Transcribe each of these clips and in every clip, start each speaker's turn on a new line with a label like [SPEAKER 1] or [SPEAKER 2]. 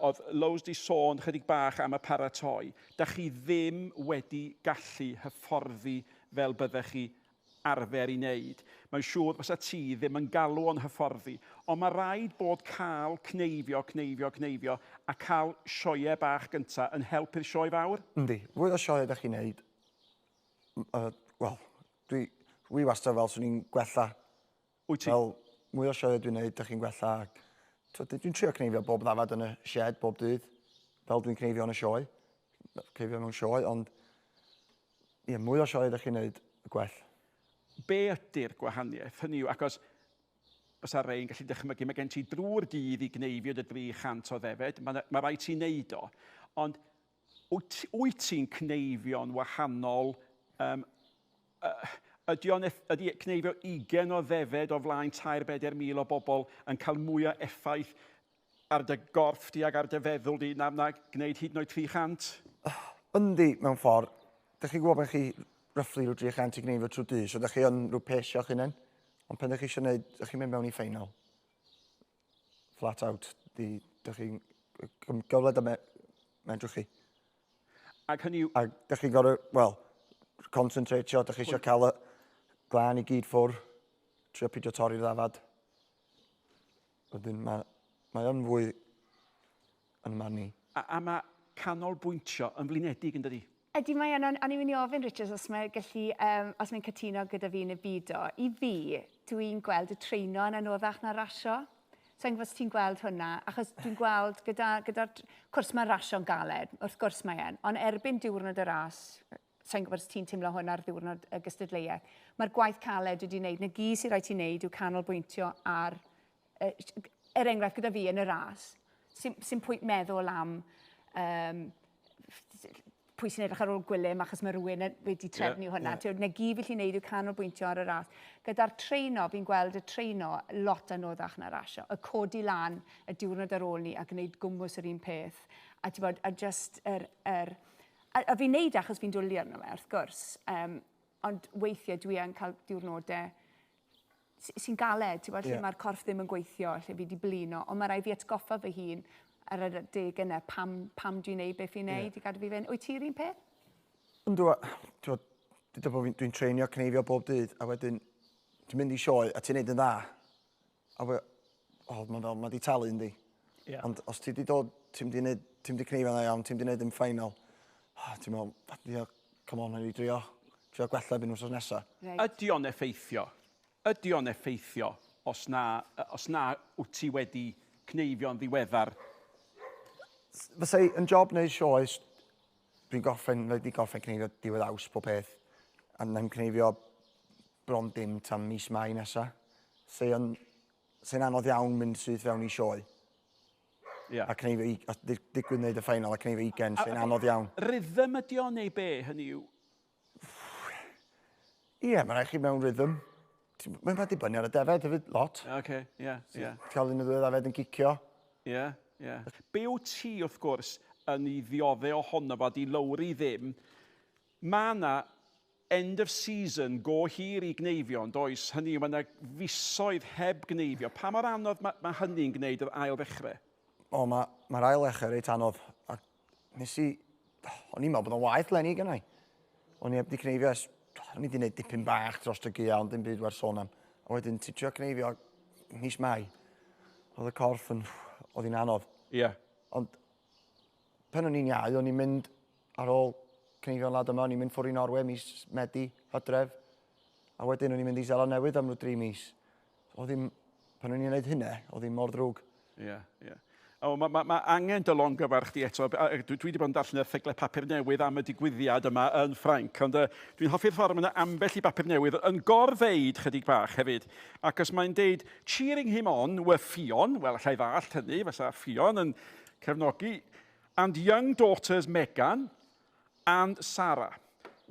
[SPEAKER 1] Oedd Lows 'di sôn chydig bach am y paratoi. Dach chi ddim wedi gallu hyfforddi fel byddech chi arfer i neud. Mae'n siŵr fysa ti ddim yn galw o'n hyfforddi. Ond ma raid bod cael cneifio, cneifio, cneifio a cael sioeau bach gynta yn help i'r sioe fawr. Yndi. Fwy o sioeau
[SPEAKER 2] dach chi'n neud, yy wel, dwi, dwi wastad fel swn i'n gwella Wyt ti?
[SPEAKER 1] Wel, mwy o
[SPEAKER 2] sioeau dwi'n neud, dych chi'n gwella ac twyd, dwi'n trio cneifio bob ddafad yn y shed bob dydd, fel dwi'n cneifio yn y sioe, cneifio mewn sioe, ond ie, mwy o sioeau dych chi'n neud, y gwell. Be
[SPEAKER 1] ydy'r gwahaniaeth? Hynny yw, achos fysa rei yn gallu dychmygu, mae gen ti drwy'r dydd i gneifio dy 300 o ddefed, mae, mae rhaid ti wneud o, ond Wyt, wyt ti'n cneifio'n wahanol, yym, yy, ydy o'n eff, ydy cneifio ugen o ddefed o flaen tair beder mil o bobl yn cael mwy o effaith ar dy gorff di ac ar dy feddwl di na, na gwneud hyd yn oed 300? Yndi,
[SPEAKER 2] mewn ffordd. Dych chi'n gwybod pan chi roughly rhyw 300 i gneifio trwy dydd, so dych chi yn rhyw pace o'ch hunain. Ond pan dych chi eisiau gwneud, dych chi'n mynd mewn i ffeinal. flat out, di, dych chi'n gyfle da me, medrwch chi. Ac
[SPEAKER 1] hynny yw... Ac dych chi'n gorau,
[SPEAKER 2] wel, concentratio, dych chi eisiau cael y glân i gyd ffwr, trio pidio torri'r ddafad. Wedyn mae, mae o'n fwy yn y marn i. A, a mae
[SPEAKER 1] canolbwyntio yn flinedig yn dydi? Ydy, mae yna, o'n
[SPEAKER 3] i'n mynd i ofyn, Richard, os mae'n gallu, um, os mae'n cytuno gyda fi neu bido. I fi, dwi'n gweld y treino yn anoddach na rasio. So, yn gwybod ti'n gweld hwnna, achos dwi'n gweld gyda, gyda cwrs mae rasio'n galed, wrth gwrs mae e'n, ond erbyn diwrnod y ras, so'n gwybod os ti'n teimlo hwn ar ddiwrnod y gystadleuaeth, mae'r gwaith caled wedi wneud, na gyd sy'n rhaid ti'n wneud yw canolbwyntio ar er enghraifft gyda fi yn y ras, sy'n sy pwynt meddwl am um, pwy sy'n edrych ar ôl gwylym achos mae rhywun wedi trefnu yeah, hwnna. Yeah. Na gyd fi'n neud yw canolbwyntio ar y ras. Gyda'r treino, fi'n gweld y treino lot anoddach na rasio. Y codi lan y diwrnod ar ôl ni a gwneud gwmwys yr un peth. A, bod, a just yr... Er, a, a fi'n neud e achos fi'n dwlu arno fe, wrth gwrs. Um, ond weithiau dwi yn cael diwrnodau sy'n galed, ti'n gwybod, lle yeah. mae'r corff ddim yn gweithio, lle fi wedi blino, ond mae rhaid fi atgoffa fy hun ar y deg yna, pam, pam dwi'n neud beth fi'n neud yeah. i gadw fi fynd. Wyt ti'n un peth? Ynddo,
[SPEAKER 2] dwi'n dwi treinio cneifio bob dydd, a wedyn dwi'n mynd i sioe, a ti'n neud yn dda. A we, oh, mae'n fel, mae di talu yndi. Yeah. Ond os ti di dod, ti'n di wneud, ti'n di cneifio na iawn, ti'n di wneud yn ffainal, oh, ti'n meddwl, fadio, come on, i drio, trio gwella byn wrth nesa. Right. Ydy o'n effeithio?
[SPEAKER 1] Ydy o'n effeithio os na, os na wyt ti wedi cneifio'n ddiweddar?
[SPEAKER 2] Fysa yn job neu sioes, Dwi'n gorffen, wedi gorffen cneifio diwedd aus pob peth. A na'n cneifio bron dim tan mis Mai nesa. Se'n se anodd iawn mynd syth fewn i sioe. Yeah. A cneifio, os digwydd wneud y ffeinal a cneifio ugen, se'n anodd iawn. Rhythm ydi o neu
[SPEAKER 1] be, hynny yw?
[SPEAKER 2] Ie, yeah, mae'n rhaid chi mewn rhythm. Mae'n rhaid i bynnu ar y defed hefyd, lot. Ie, okay, ie, yeah, ie. Yeah. Cael un o ddweud afed yn cicio. Ie, yeah, ie. Yeah.
[SPEAKER 1] Be o ti, wrth gwrs, yn ei ddiodde ohono fo, di lowri ddim. Mae yna end of season go hir i gneifio, ond oes hynny yw, mae yna fisoedd heb gneifio. Pa mor anodd mae, mae hynny'n gwneud yr ail ddechrau? O, mae'r
[SPEAKER 2] mae ail ddechrau reit anodd. A Nes i... O'n i'n meddwl bod o'n waith lenni gyda i. O'n i heb di cneifio es... O'n i di wneud dipyn bach dros y gia, ond dim byd werth sôn am. A wedyn ti trio cneifio mis mai. Oedd y corff yn... Oedd hi'n anodd. Ie. Yeah. Ond pen o'n i'n iau, o'n i'n mynd ar ôl cneifio'n lad yma, o'n i'n mynd ffwrdd i Norwe mis Medi, hydref. A wedyn o'n i'n mynd i Zeland Newydd am rhyw dri mis. Oedd hi'n... Pan o'n i'n gwneud hynna, oedd hi'n mor ddrwg. Ie, ie. O,
[SPEAKER 1] mae ma, ma angen dy longyfarch chdi eto. Dwi, dwi wedi bod yn darllen erthyglau papur newydd am y digwyddiad yma yn Ffrainc, ond uh, dwi'n hoffi'r ffordd mae yna ambell i bapur newydd yn gorfeid chydig bach hefyd. Ac os mae'n deud, cheering him on were Ffion, wel, allai ddallt hynny, fysa Ffion yn cefnogi, and young daughters Megan, And Sara.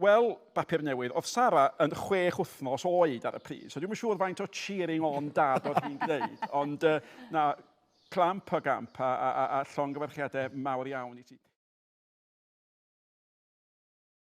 [SPEAKER 1] Wel, bapur newydd, oedd Sara yn chwech wythnos oed ar y pryd, so dwi'n yn siŵr faint o cheering on dad oedd hi'n gwneud, ond uh, na, clamp a gamp a, a, a, a llongyfarchiadau mawr iawn i ti.